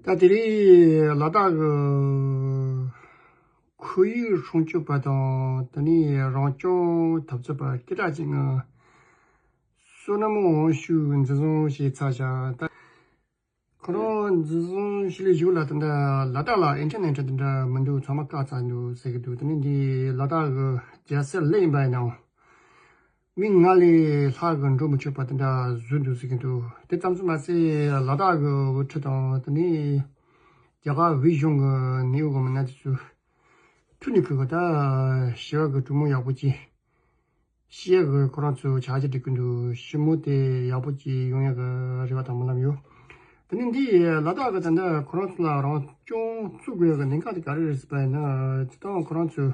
སྐབས་དེར་ལ་དྭགས་ཀྱི་ཁོར་ཡུག་སྲུང་སྐྱོབ་པ་དང་དེ་ནས་རང་སྐྱོང་འཐབ་རྩོད་པ་སྐད་གྲགས་ཅན་ལྔ། བསོད་ནམས་དབང་ཕྱུག་འཛིན་བཟུང་བྱས་ཚར་བཞག་ཁོ་རང་འཛིན་བཟུང་བྱས་ལས་ཞུགས་ལ་དེ་འདྲ་ལ་དྭགས་ལ་ཨིན་ཐེར་ནེ་ཐྲེལ་དེ་འདྲ་མི་འདུག་ཚང་མ་བཀག་ཚར་འདུག་ཟེར་གྱི་འདུག་དེ་ནི་འདི་ལ་དྭགས་ཀྱི་རྒྱལ་སྲིད་ལས་ཡིན་པ་ཡིན་ནའང། མིག་སྔར་ལས་ལྷག་གི་འགྲོ་མི་ཆོག་པ་དེ་འདྲ་བཟོས་འདུག་ཟེར་གྱི་འདུག་དེ་ཙམ་ཙམ་མ་ཟད་ལ་དྭགས་ཀྱི་དབུ་ཁྲིད་དང་དེ་ནས་རྒྱ་གར་བོད་གཞུང་གི་ནད་ཡོད་མི་སྣ་དེ་ཚོས་ཐུགས་ནས་གུས་པ་དང་ཞི་བ་གི་གྲུ་མོ་ཡག་པོ་བཅད། ཤེས་ཡག་གི་ཁོ་རང་ཚོས་བྱ་བྱེད་སྒྲིག་གི་འདུག་ཞི་མོ་དེ་ཡག་པོ་བཅད་ཡོང་ཡག་གི་རེ་བ་དང་སྨོན་ལམ་ཡོད། དེ་ནས་འདི་ལ་དྭགས་ཀྱི་ད་ལྟ་ཁོ་རང་ཚོ་ལ་རང་སྐྱོང་བཙུགས་དགོས་ཀྱི་གནད་འགག་དེ་ག་རེ་རེད་ཟེར་པ་ཡིན་ན་དེ་དག་ཁོ་རང་ཚོས་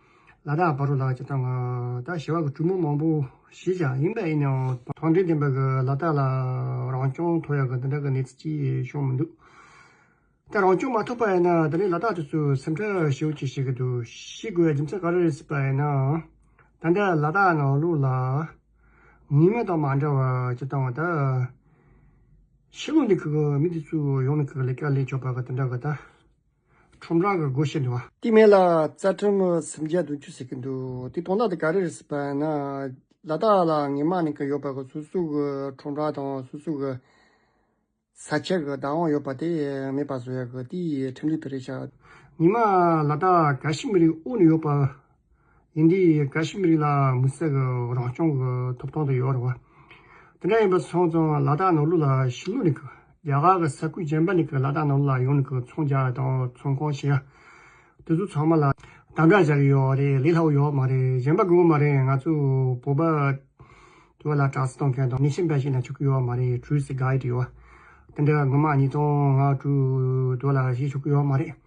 ལ་དྭགས་བ་རུ་ལགས་ཀྱི་སྟངས་ད་ཞི་བ་གི་གྲུ་མོ་མང་པོ་ཞིག་ཀྱང་ཡིན་པ་ཡིན་ཡང། ཐང་འབྲིང་ལྡན་པ་གི་ལ་དྭགས་ལ་རང་སྐྱོང་ཐོབ་ཡག་གི་འདི་འདྲ་གི་གནས་ཚུལ་གྱིས་བྱུང་མི་འདུག་ད་རང་སྐྱོང་མ་ཐོབ་པ་ཡིན་ན་ད་ནི་ལ་དྭགས་དེ་ཚོས་སེམས་ཁྲལ་ཞི་བོ་ཅིག་བྱེད་གི་འདུག་ཤི་དགོས་རྒྱུ་མཚན་ག་རེ་རེད་སྲིད་པ་ཡིན་ནའང། ད་ལྟ་ལ་དྭགས་ནང་ལུགས་ལ་ངེས་མེད་དང་མ་འདྲ་བ་ཀྱི་སྟངས་ད། ཕྱི་ལུགས་འདི་གི་མི་འདི་ཚོས་ཡོང་ནས་གི་ལས་ཀ་ལས་ཆོག་པ་གི་འདི་འདྲ་གི་ད། ཁྲོམ་རྭ་གི་སྒོ་ཕྱེ་འདི་བ། དེ་མིན་ལ་རྩ་ཁྲིམས་སུམ་བརྒྱ་དུང་ཕྱུར་ཟེར་གྱི་འདུག་དེ་དོན་དག་དེ་ག་རེ་རེད་ཟེར་པ་ན། ལ་དྭགས་ལ་ངེད་མ་ནིང་གི་ཡོད་པ་གི་སོ་སོའི་གི་ཁྲོམ་རྭ་དང་སོ་སོའི་གི་ས་ཆ་གི་བདག་དབང་ཡོད་པ་དེ་མེད་པ་བཟོ་ཡག་གི་དེའི་ཁྲིམས་ལུགས་དེ་རེད་ཤག། ངེད་མ་ལ་དྭགས་ག་ཤེད་མི་རིགས་དབུ་ནས་ཡོད་པ་ཡིན་དུས་ག་ཞིག་མི་རིགས་ལའང་མི་བསྲེག་རང་སྐྱོང་གི་ཐོབ་ཐང་དུ་ཡོད་རེད་བ། དེ་འདྲ་ཡིན་པ་སོང་ཙང་ལ་དྭགས་ནང་ལུགས་ལ་ཞི་གླུ་ནི་གི། རྒྱ་གར་གི་ས་ཁུལ་གཞན་པ་ནི་གི་ལ་དྭགས་ནང་ལུགས་ལ་ཡོང་ནི་གི་ཚོང་རྒྱག་དང་ཚོང་ཁང་བྱེད་ཡ། དེ་ཚོ་ཚང་མ་ལ། དམ་དྲག་བྱ་གི་ཡོད་རེད་ལས་སླ་བོ་ཡོད་མ་རེད་གཞན་པ་དགོས་གི་མ་རེད་ང་ཚོ་བོད་པ། དེ་བ་ལ་དྲག་གསི་གཏོང་མཁན་དང་མི་ཤེས་འབའ་ཞིག་ན་ཆོག་གི་ཡོད་མ་རེད truth is guide ཡོད་བ། དེ་འདྲ་ངོ་མ་ཉིད་དང་ང་དྲུག་དེ་བ་ལ་ཞིག་ཆོག་གི་ཡོད་མ་རེད།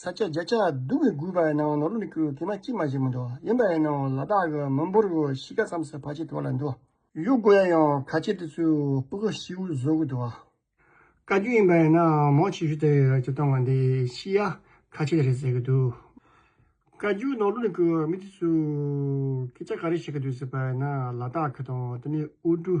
ས་སྐྱ་བརྒྱ་ཆ་བདུན་གྱི་དགུའི་བར་སྣང་བ་ནོར་བུ་ལས་ཀྱུ་གི་མ་གཅིག་མ་གཅིག་མ་འདུག་ཡིན་པ་ཡིན་ནོ་ལ་དྭགས་ཀྱི་མི་འབོར་གྱི་གཤིས་ཀ་མཚམས་སུ་བར་ཆད་དོར་ལ་འདུག། ཡུལ་སྒོ་ཡ་ཡང་ག་ཆེ་དེ་ཚོའི་སྤུ་ཁ་ཤི་བོའི་བཟོ་དགོས་འདུག། བཀའ་བརྒྱུད་ཡིན་པ་ཡིན་ན་མོ་ཆེ་ཤོས་དེ་ཀྱི་སྟོང་བ་འདི་ཤི་ཡ་ག་ཆེ་རེད་ཟེར་གྱི་འདུག། བཀའ་བརྒྱུད་ནོར་བུ་ལས་ཀྱུ་མི་དེ་ཚོས་སྐད་ཆ་ག་རེ་བཤད་ཀྱི་འདུག་ཟེར་པ་ཡིན་ན་ལ་དྭགས་ཀྱི་དང་དེ་ནས་དབུས་གྲུ།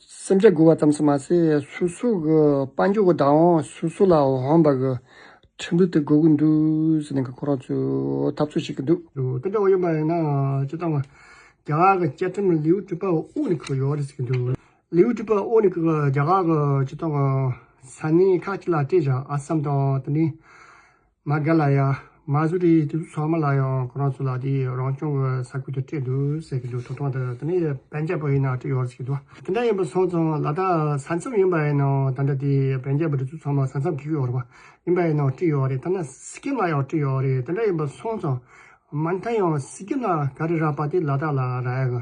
སེམས་ཅན་མགུ་བ་ཙམ་ཞིག་མ་ཟད་སུ་སུ་གི་དཔའ་འཇུག་གི་བདག་དབང་སུ་སུ་ལ་འོང་བ་གི་ཁྲིམས་ལུགས་དེ་དགོས་ཀྱི་འདུག་ཟེར་ནས་ཁོ་རང་ཚོའི་འཐབ་རྩོད་བྱེད་ཀྱི་འདུག། དེ་འདྲ་བ་ཡོད་པ་ཡིན་ན་སྤྱིར་བཏང་བརྒྱ་གར་གྱི་བཅའ་ཁྲིམས་ལེའུ་བཅུ་པའི་དབུ་ནས་བཀག་ཡོད་རེད་ཟེར་གྱི་འདུག་ལེའུ་བཅུ་པའི་དབུ་ནས་བཀག་པའི་རྒྱ་གར་གྱི་སྤྱིར་བཏང་གི་ས་གནས་ཁག་ཅིག་ལ་བལྟས་བཞག་ཨ་སམ་དང་དེ་མིན་མ་ག་ལ་ཡ། མ་སུ་རི་དེ་ཚོ་ཚང་མ་ལ་ཡང་ཁོ་རང་ཚོ་ལ་དེ་རང་སྐྱོང་གི་ས་ཁུལ་དུ་སྤྲད་འདུག་ཟེར་གྱི་འདུག་ཐོབ་ཐང་དེ་དེ་ནས་བན་རྒྱལ་པོ་ཡིན་ན་སྤྲད་ཡོང་ཟེར་གྱི་འདུག་དེ་འདྲ་ཡིན་པ་སོང་ཙང་ལ་དྭགས་ས་མཚམས་ཡིན་པ་ཡིན་ན་ད་ལྟ་དེ་བན་རྒྱལ་པོ་དེ་ཚོ་ཚང་མ་ས་མཚམས་ཀྱི་ཡོ་རོ་པ་ཡིན་པ་ཡིན་ན་སྤྲད་ཡོང་རེད་ཐ་ན་སི་ཀེམ་ལ་ཡང་སྤྲད་ཡོང་རེད་དེ་འདྲ་ཡིན་པ་སོང་ཙང་མ་མཐའ་ཡང་སི་ཀེམ་ལ་ག་རེ་རག་པ་དེ་ལ་དྭགས་ལ་རག་ཡ་གི་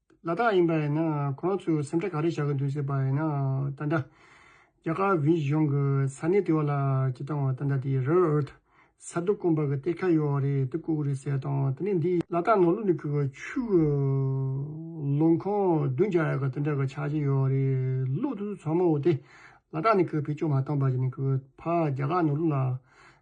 ལ་དྭགས་ཡིན་པ་ཡིན་ན་ཁོ་རང་ཚོས་སེམས་ཁྲལ་ག་རེ་བྱ་གི་འདུག་ཟེར་པ་ཡིན་ན་ད་འདྲ། རྒྱ་གར་བྷི་གཞུང་གི་ས་གནས་དེ་བ་ལ་ཇི་ལྟ་བ་ད་འདྲ་དེ་རེར་ཨོ་ད་ས་རྡོ་སྐོམ་པ་གི་གཏེར་ཁ་ཡོད་བ་རེད་དེ་བརྐུ་གི་རེད་ཟེར་དང་དེ་ནས་འདི་ལ་དྭགས་ནང་ལུག་ནི་བརྐུས་པ་ཆུ་གི་ལོ་འཁོར་བདུན་བརྒྱ་ཡ་ག་དེ་འདྲ་གི་ཆགས་ཀྱི་ཡོད་བ་རེད་ལུག་དེ་ཚོ་ཚང་མ་འོ་དེ་ལ་དྭགས་ནས་གི་བེད་སྤྱོད་མ་བཏང་པ་ཞིག་ནས་གི་ཕ་རྒྱ་གར་ནང་ལུག་ལ